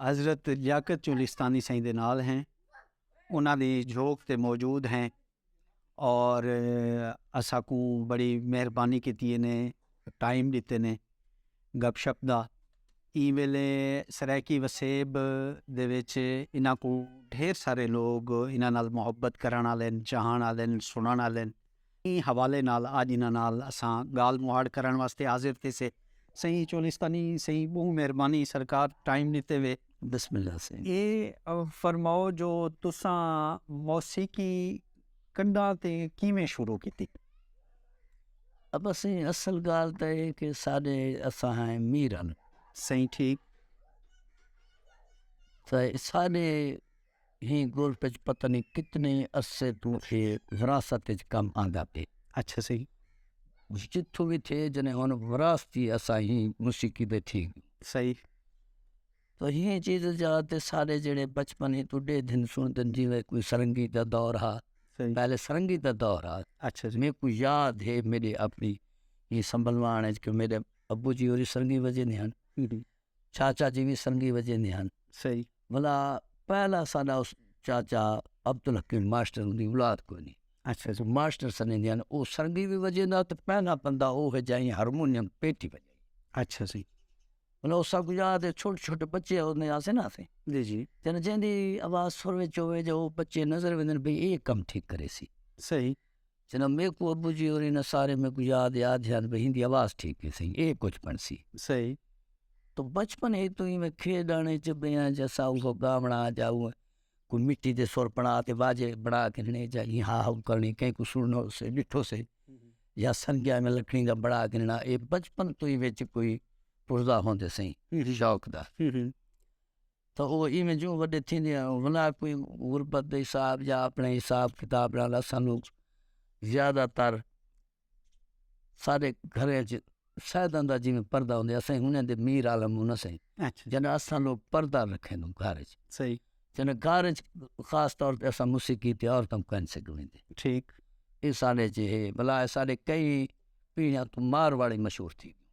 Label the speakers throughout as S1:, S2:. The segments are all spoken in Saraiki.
S1: حضرت لیاقت چولستانی سائیں دے نال ہیں انہاں دی جھوک تے موجود ہیں اور اساں کوں بڑی مہربانی کیتی نے ٹائم ڈتے نے گپ شپ دا ایں ویلے سرائیکی وسیب دے وچ انہاں کوں ڈھیر سارے لوگ انہاں نال محبت کرن آلن چاہن آلن سنن آلن۔ ایں حوالے نال اج انہاں نال اساں گالھ مہاڑ کرنڑ واسطے حاضر تھیسے۔ سئیں چولستانی سئیں بہوں مہربانی سرکار ٹائم ڈتے وے۔ بسم اللہ سئیں اے فرماؤ جو تساں موسیقی کڈاں تے کیویں شروع کیتی؟
S2: ابا سئیں اصل گالھ تاں اے کہ ساڈے اساں ہیں میرن سئیں ٹھیک تاں ساڈے۔ ہی گولف اچ پتہ نی کتنے عرصے توں اے وراثت اچ کم آندا پئے۔ اچھا
S1: صحیح۔ جتھوں
S2: وی تھئے جنے ہن وراثتی اساں ہی موسیقی دے تھی گئے۔ صحیح۔ تو ہی چیز جا تے سارے جیڑھے بچپن ہی توں ڈے دن سن دن جی میں کوئی سرنگی دا دور ہا۔ صحیح۔ پہلے سرنگی دا دور ہا۔ اچھا جی۔ میں کو
S1: یاد ہے
S2: میری اپنی ہی سنبھلوان اچ کہ میرے ابو جی ہوری سرنگی وجے نے ہن۔ ہی ہی۔ چاچا جی وی سنگی وجیندے ہن ولا پہلا ساڈا اس چاچا عبدالحکیم ماسٹر دی اولاد کوئی نی اچھا جی ماسٹر
S1: سنے دیاں او
S2: سنگی وی وجیندا تے پہلا بندہ او ہے جائیں ہارمونیم پیٹی وجائی اچھا جی
S1: ولا او سب
S2: یاد ہے چھوٹے چھوٹے بچے او نے آسے نا آسے جی جی جن جیندی آواز سر وچ ہوے جو بچے نظر ویندن بھئی اے کم ٹھیک کرے سی صحیح
S1: جناب میکو
S2: ابو جی اور انہاں سارے میکو یاد یاد یاد بھئی ہندی آواز ٹھیک نہیں سہی اے کچھ پن سی سہی
S1: تو
S2: بچپن ہے تو میں کھیڈ آنے چ بیا جسا او گا بنا جاؤ کو مٹی دے سر بنا تے واجے بنا کے نے جا ہی ہا ہو کرنی کہیں کو سنو سے ڈٹھو سے یا سنگیا میں لکھنی دا بڑا گننا اے بچپن تو ہی وچ کوئی پرزا ہوندے سہی شوق دا تاں او ایویں جوں وݙے تھیندے ہن انہاں دا کوئی غربت دا حساب یا اپݨے حساب کتاب نال اساکوں زیادہ تر سارے گھراں ءچ شیطان دا جیویں پردہ ہوندے اساں انہاں دے میر عالم ہوں نہ سئیں جݙاں اساں
S1: لوک
S2: پردہ رکھیں گھر ءچ صحیح جݙاں گھر
S1: ءچ
S2: خاص طور تے اساں موسیقی تے عورتاں کوں کائنی سڳدے ٹھیک
S1: اے ساݙے
S2: ءچ اے بلا ساݙے کئی پیڑھیاں توں مارواڑی مشہور تھی ڳیوں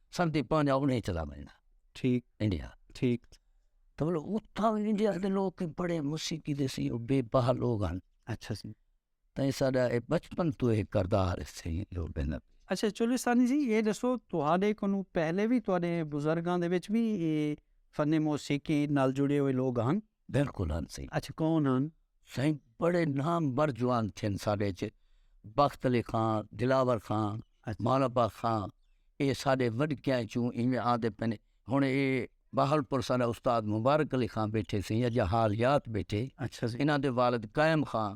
S2: سردی پانجا اونی اچ دا مہینہ ٹھیک انڈیا
S1: ٹھیک تو
S2: اتھا انڈیا دے لوگ کی بڑے موسیقی دے سی او بے بہا لوگ ہن اچھا سی
S1: تاں ایسا دا
S2: اے بچپن تو اے کردار سی لوگ دے نبی اچھا چولستانی
S1: جی اے دسو توہاڈے کنو پہلے وی توہاڈے بزرگاں دے وچ وی اے فن موسیقی نال جڑے ہوئے لوگ ہن بلکل ہن سئیں
S2: اچ کون ہن
S1: سئیں بڑے
S2: نامور جوان تھن ساڈے اچ بخت علی خان دلاور خان مولا با خان اے ساڈے وڈکیاں اچوں ایویں آندے پنے ہن اے بہاولپور ساڈا استاد مبارک علی خان بیٹھے سئیں اجاں حالیات بیٹھے انہاں دے
S1: والد قائم
S2: خان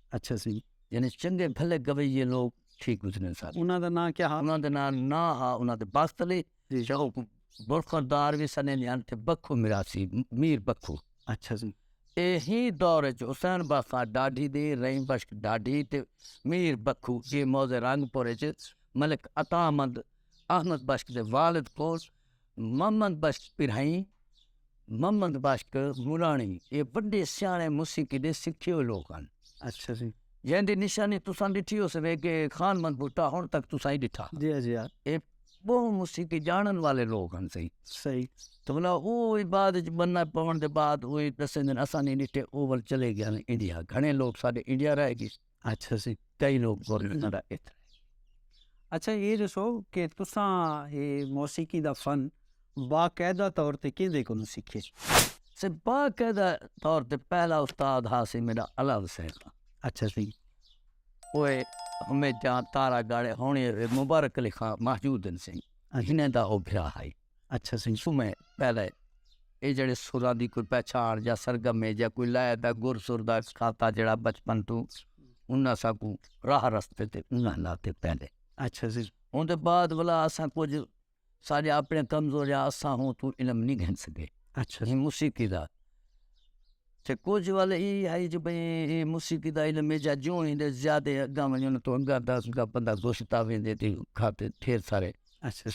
S2: اچھا سی
S1: یعنی چنگے بھلے
S2: گویے لوگ ٹھیک گزرے سن انہاں دا نام کیا ہا انہاں دا
S1: نام نا ہا
S2: انہاں دے بخت علی جی۔ شاہ برخوردار بھی سنے نیان تے بکھو مراسی میر بکھو اچھا سی
S1: اے ہی دور
S2: وچ حسین بخاں ڈاڈھی دی رحیم بخش ڈاڈھی تے میر بکھو اے موضع رنگ پور وچ ملک عطا مند احمد بخش دے والد کول محمد بخش پرہنئی، محمد بخش مراݨی اے وݙے سیاݨے موسیقی دے سکھے ہوئے لوک ہن۔ اچھا جی۔
S1: جیں دی نشانی
S2: تساں ݙٹھی ہوسوے کہ خان محمد بھٹہ ہݨ تک تساں ہی ݙٹھا۔ جی ہاں جی ہاں۔ اے
S1: ٻہوں
S2: موسیقی ڄاݨن والے لوک ہن سئیں۔ صحیح۔ تو ولا
S1: او
S2: وی بعد وچ بننا پوݨ دے بعد او وی ݙسیندن اساں نی ݙٹھے او ول چلے ڳئے ہن انڈیا گھݨے لوک ساݙے انڈیا رہ ڳئے۔ اچھا سی کئی
S1: لوگ
S2: بولنا دا اتر
S1: اچھا یہ دسو کہ تساں یہ موسیقی دا فن باقاعدہ طور تے کیں دے کولوں سیکھے سے
S2: باقاعدہ طور تے پہلا استاد ہا سی میرا علا حسین دا اچھا سی
S1: وہ
S2: ہمیں جان تارا گاڑے ہونی مبارک علی خان محجود سنگھ انہیں دا ہو بھرا ہائی اچھا سنگھ سومے
S1: پہلے
S2: اے جڑے سراں دی کوئی پہچان یا سرگم ہے یا کوئی لائے دا گر سر دا کھاتا جڑا بچپن توں انہاں سا کو راہ رستے تے انہاں لاتے پہلے اچھا سنگھ
S1: اون دے بعد ولا
S2: اساں کچھ سارے اپنے کمزور یا اساں ہوں تو علم نہیں گھن سکے اچھا سنگھ موسیقی
S1: دا
S2: تے کجھ ول اے ہئی جو بھئی اے موسیقی دا علم اے جا جوں ایندے زیادہ اگاں ونجن توں اگاں دا اسکا بندہ گشت آوے دے تے کھاتے ٹھیر سارے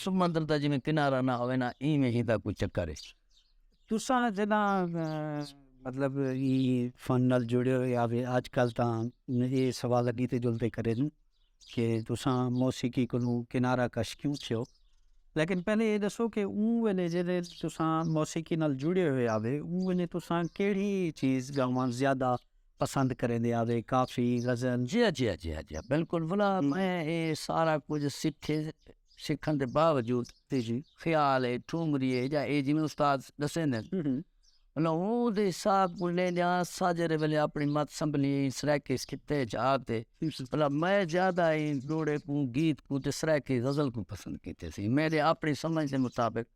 S2: سمندر
S1: دا جیویں
S2: کنارہ نہ ہووے نا ایویں ہی دا کوئی چکر اے۔ تساں
S1: جداں مطلب ای فن نال جڑے ہوئے آوے آج کل تاں اے سوال اگی تے جلدے کرے نیں۔ کہ تساں موسیقی کنوں کنارہ کش کیوں تھیو؟ لیکن پہلے ایہ ݙسو کہ اوں ویلے جݙیں تساں موسیقی نال جڑے ہوئے ہاوے اوں ویلے تساں کیڑھی چیز ڳاوݨ زیادہ پسند کریندے ہاوے، کافی، غزل؟ جی ہا جی ہا جی ہا جی ہا
S2: بالکل ولا میں اے سارا کجھ سکھے سکھݨ دے باوجود خیال
S1: اے
S2: ٹھمری اے یا اے جیویں استاد ݙسیندن لہود صاحب کوں لیندے آں ساجرے ویلے اپنی مت سنبھلی ایں سرائیکیس کتے جا تے بھلا میں زیادہ ایں جوڑے کوں گیت کوں تے سرائیکی غزل کوں پسند کیتے سی میرے اپنی سمجھ دے مطابق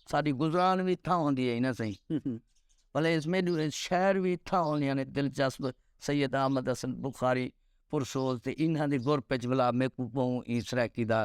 S2: ساڈی گزران وی تھاں ہوندی ہے نا سہی بھلے اس میں شہر وی تھاں ہوندیاں نے دلچسپ سید احمد حسن بخاری پرسوز تے انہاں دے گروپ وچ بھلا میکوں بہوں ایں سرائیکی دا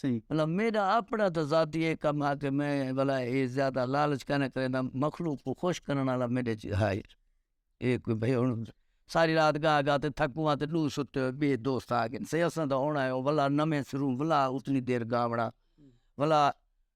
S2: سئیں۔ بھلا میڈا
S1: اپنڑا
S2: تاں ذاتی اے کم ہا کہ میں بھلا اے زیادہ لالچ کائناں کریندا مخلوق کوں خوش کرنڑ آلا میڈے چ ہا ہی اے کوئی بھئی ہنڑ ساری رات گا گا تے تھکوں آں تے ڈو ستے ہوئے بئے دوست آ گئن سئیں اساں تاں ہنڑ آیوں بھلا نویں سروں بھلا اتنی دیر گاونڑاں بھلا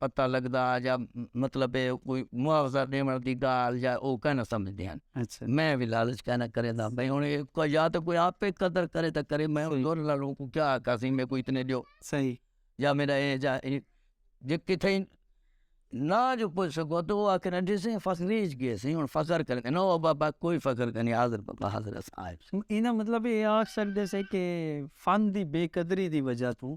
S2: پتہ لگدا یا مطلب ہے کوئی معاوضہ ݙیوݨ دی ڳالھ یا او کائیں نہ سمجھدے ہن میں وی لالچ کائیں نہ کرینداں بھئی ہݨ اے یا تاں کوئی آپے قدر کرے تاں کرے میں زور نال اونکوں کیا آکھاں سئیں میکوں اتنے ݙیو یا میݙا اے یا اے جے کتھے نہ جو پچھ سڳو تاں او آکھن ݙیسے سئیں فخر ریچ ڳئے سئیں ہݨ فخر کرے نہ او بابا کوئی فخر کائنی حاضر بابا حاضر ہس آ ایندے مطلب اے آکھ سڳدے سے کہ فن دی بے قدری دی وجہ توں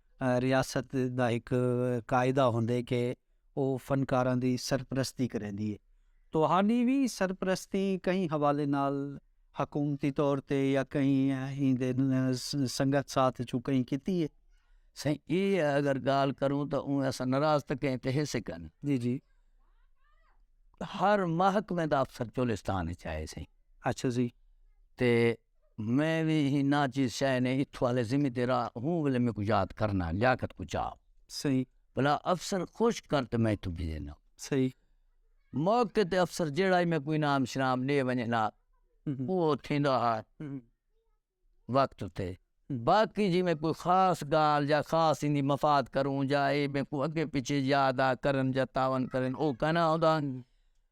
S2: ریاست دا ہک قاعدہ ہوندے کہ او فنکاراں دی سرپرستی کریندی ہے۔ تہاڈی وی سرپرستی کہیں حوالے نال حکومتی طور تے یا کہیں ایندے سنگت ساتھ وچوں کہیں کیتی ہے؟ سائیں اے اگر گال کروں تاں اوں اساں ناراض تاں کہیں تے ہیسے کن۔ جی جی۔ ہر محکمے دا افسر چولستان وچ آئے سائیں۔ اچھا جی۔ تے۔ میں وی ایں ناچیز شے نے اتھوں آلے ذمہ دیرا ہوں ولے میکوں یاد کرنا لیاقت کوں چا صحیح بلا افسر خوش کر تے میں اتھوں بھیجنا صحیح موقع تے افسر جیڑا ہی میکوں انعام شنام ڈے ونجے نا وہ تھیندا ہا وقت تے باقی جی میں کوئی خاص گال یا خاص اندی مفاد کروں یا اے میکوں اگے پیچھے یاد آ کرن یا تعاون کرن او کنا ہوندا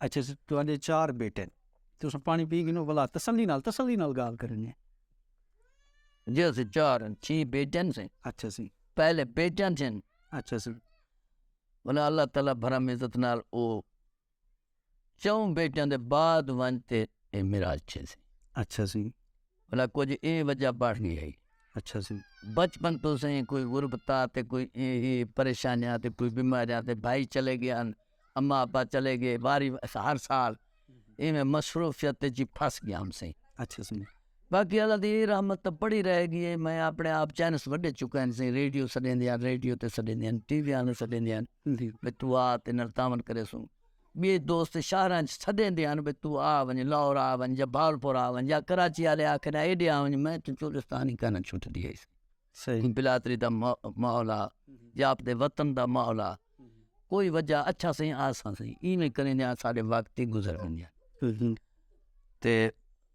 S2: اچھا جی تو
S1: آندے چار بیٹے تو سن پانی پی گنو بلا تسلی نال تسلی نال گال کرنی ہے
S2: جی اسی چار چھی بیٹے سے اچھا جی پہلے
S1: بیٹے سے
S2: اچھا جی
S1: انہاں
S2: اللہ تعالی بھرم عزت نال او چؤں بیٹیاں دے بعد ونج تے اے میراج تھیسی اچھا سی
S1: بھلا کجھ
S2: اے وجہ بڑھ گئی ہئی اچھا سی
S1: بچپن تو سیں
S2: کوئی غربتا تے کوئی اے اے پریشانیاں تے کوئی بیماریاں تے بھائی چلے گئے ہن اماں ابا چلے گئے واری ہر سال ایویں مصروفیت جی پھس گیا ہم سیں اچھا سی
S1: باقی اللہ دی اے
S2: رحمت تاں پڑی رہے گی اے میں اپنے آپ چینس وڈے چکے ہن سئیں ریڈیو سڈیندے ہن ریڈیو تے سڈیندے ہن ٹی وی آلے سڈیندے ہن بھئی تو آ تے نال تعاون کریسوں ٻئے دوست شہراں اچ سڈیندے ہن بھئی تو آ ونڄ لاہور آ ونڄ یا بہاولپور آ ونڄ یا کراچی آلے آکھن ایڈے آ ونڄ میں توں چولستان ای کائناں چھٹدی ہئی سئیں بلادری
S1: دا
S2: ماحول ہا یا آپدے وطن دا ماحول ہا کوئی وجہ اچھا سئیں آساں سئیں ایویں کریندے آں ساڈے وقت ای گزر ویندے ہن تے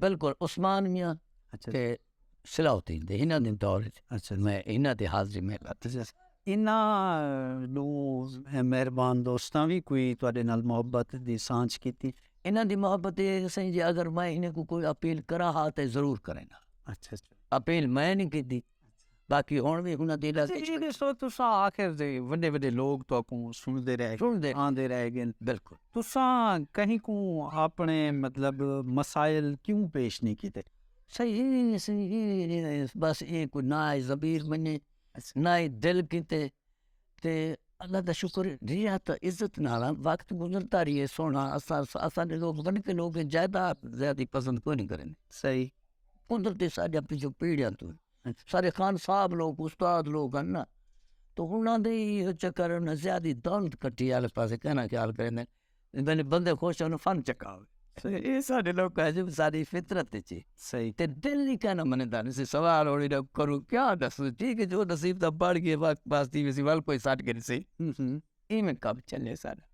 S1: بالکل عثمان
S2: میاں تے
S1: صلاح
S2: الدین دے انہاں دے دور وچ میں انہاں
S1: دی حاضری
S2: میں انہاں
S1: دو مہربان دوستاں وی کوئی تہاڈے نال محبت دی سانجھ کیتی انہاں دی محبت اے
S2: سئیں جی اگر میں انہاں کوں کوئی اپیل کراں ہا تے ضرور کریں ہاں
S1: اپیل میں نی
S2: کیتی۔ باقی ہݨ وی انہاں دے علاقے وچ ݙیکھو ݙیکھو تساں
S1: آخر تے وݙے وݙے لوگ تہاکوں سݨدے رہ ڳن آندے رہ ڳن بالکل تساں
S2: کہیں
S1: کوں آپݨے مطلب مسائل کیوں پیش نی کیتے صحیح صحیح
S2: بس ایہ کوئی نہ ضمیر منیں نہ ہی دل کیتے۔ تے اللہ دا شکر اے جیہڑا اساں عزت نال وقت گزردا ریہے سوہݨا اساں اساں دے لوک ونڄ کے لوک جائیداد زیادہ پسند کونی کرن صحیح
S1: قدرتی
S2: ساݙیاں پچھوں پیڑیاں توں سارے خان صاحب لوک استاد لوک ہن نا تو انہاں دے ای چکر زیادہ دولت کٹھیال پاسے کہناں خیال کریندے بلے بندے خوش ہن فن چکا ہوے۔ اے ساڈے لوکاں اچ اے ساڈی فطرت اچ اے۔ تے دل
S1: ای کائے ناں
S2: مندا نی سی سوال ہوڑیں دا کروں کیا ڈسوں ٹھیک اے جو نصیب دا بنڑ گیو واہ بس تھی ویسی ول کوئی سٹ گھن سی اینویں کم چلے ساڈا۔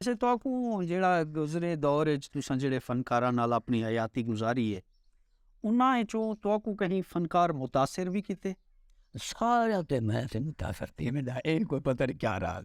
S2: اچھا تہاکوں
S1: جیڑھا گزرے دور اچ تساں جیڑھے فنکاراں نال اپنڑی حیاتی گزاری اے انہاں اچوں تہاکوں کہیں فنکار متاثر وی کیتے؟ ساریاں
S2: تے میں تے متاثر تھیویں دا اے کوئی پتہ نی کیا راز۔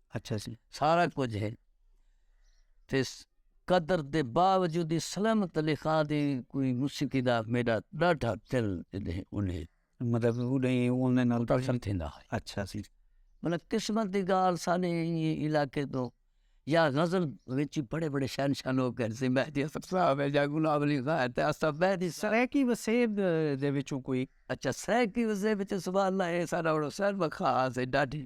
S2: سارا
S1: کجھ ہے
S2: تے قدر دے باوجود اسلم علی خاں دی کوئی موسیقی دا میڈا ڈاڈھا دل ہے انہیں مطلب
S1: انہیں نال تاثر تھیندا ہے اچھا
S2: سی
S1: مطلب قسمت
S2: دی گال سانے علاقے تو یا غزل وچ بڑے بڑے شہنشاہ لوگ ہیں جیسے مہدی حسن صاحب ہے یا غلام علی خاں ہے تے اسا مہدی سرائیکی وسیب
S1: دے وچوں کوئی اچھا سرائیکی
S2: وسیب وچ سبحان اللہ ہے سارا بڑا
S1: سر
S2: بخاص ہے ڈاڈھی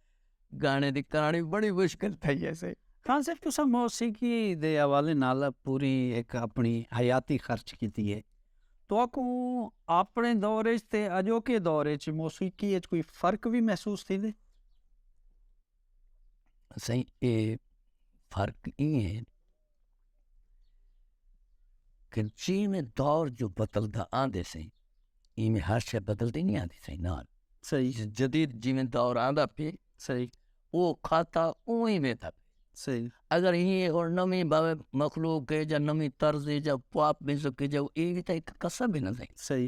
S2: گانے دی کہاݨی بڑی مشکل تھئی ہیسی۔ خان صاحب تساں
S1: موسیقی دے حوالے نال پوری ہک اپݨی حیاتی خرچ کیتی ہے۔ تہاکوں اپݨے دور اچ تے اڄوکے دور اچ موسیقی اچ کوئی فرق وی محسوس تھیندے؟
S2: سئیں اے فرق ایں ہے۔ کہ جیویں دور جو بدلدا آندے سیں ایویں ہر شے بدلدی نہیں آندی سیں نال صحیح جدید
S1: جیویں
S2: دور آندا پی صحیح
S1: او کھاتا
S2: اوہی ویتا پی صحیح اگر
S1: ہی ہن
S2: نویں باوے مخلوق ہے یا نویں طرز ہے یا پاپ میوزک ہے یا ایویں تے قصہ بھی نہ صحیح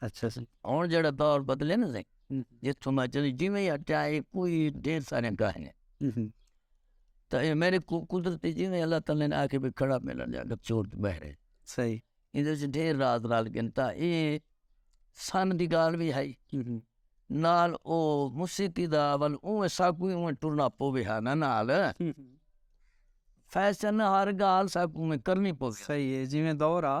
S2: اچھا سی ہن
S1: جیڑا دور
S2: بدلے نا سی جتھوں میں چلی جی میں اٹیا اے کوئی ڈھیر سارے گاہ نے تے اے میرے کو قدرتی جی میں اللہ تعالی نے آکھے بھی کھڑا ملن جا گا چور تے بہرے صحیح ایندے
S1: وچ ڈھیر
S2: راز رال گن تا اے سن دی گال وی ہائی نال او موسیقی دا ول اوں سا کو اوں ٹرنا پو وی ہا نا نال فیشن ہر گال سا کو میں کرنی پو وی صحیح اے جی میں دور
S1: آ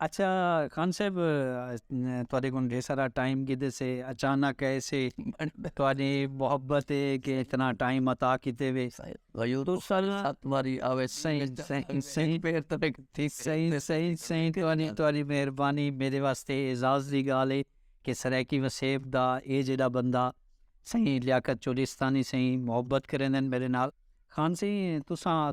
S2: اچھا
S1: خان صاحب تواڈے کول ڈھیر سارا ٹائم کیتے سے اچانک ایسے تواڈی محبت اے کہ اتنا ٹائم عطا کیتے وے تواڈی مہربانی میڈے واسطے اعزاز دی گال اے کہ سرائیکی وسیب دا اے جیڈا بندہ سئیں لیاقت چولیستانی سئیں محبت کریندن میڈے نال خان صاحب تساں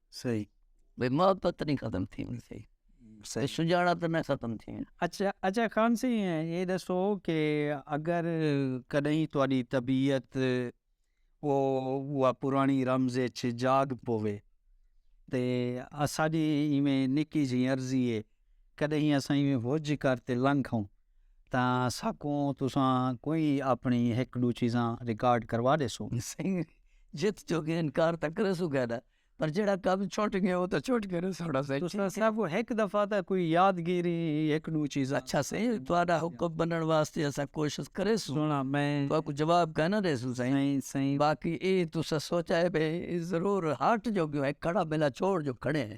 S2: صحیح
S1: بھئی محبت
S2: نی ختم تھینڑ چاہیے صحیح سجاڑپ نہ ختم تھینڑ۔ اچھا اچھا خان
S1: صاحب اے ݙسو کہ اگر کݙاہیں تہاݙی طبیعت او اوہا پراݨی رمض اچ جاڳ پووے تے اساݙی ایویں نکی جھیں عرضی اے کݙاہیں اساں ایویں ہج کر تے لنگھ ہوں تاں ساکوں تساں کوئی اپݨی ہک ݙو چیزاں ریکارڈ کروا ݙیسو۔ سنگھ
S2: جت جو ڳئے انکار تاں کریسوں گئے ݙا پر جیڑھا کم چھٹ ڳئے او تاں چھٹ ڳئے ݙا سوہݨا سئیں۔ تساں ساکوں ہک
S1: دفعہ تاں کوئی یادگیری ہک ݙو چیزاں۔ اچھا سئیں تہاݙا
S2: حکم منݨ واسطے اساں کوشش کریسوں۔ سوہݨا میں تہاکوں
S1: جواب کائناں
S2: ݙیسوں سئیں باقی اے
S1: تساں
S2: سوچائے بھئی ضرور ہٹ جو ڳیوں ہک کھڑا ٻیلا چھوڑ جو کھڑے ہیں۔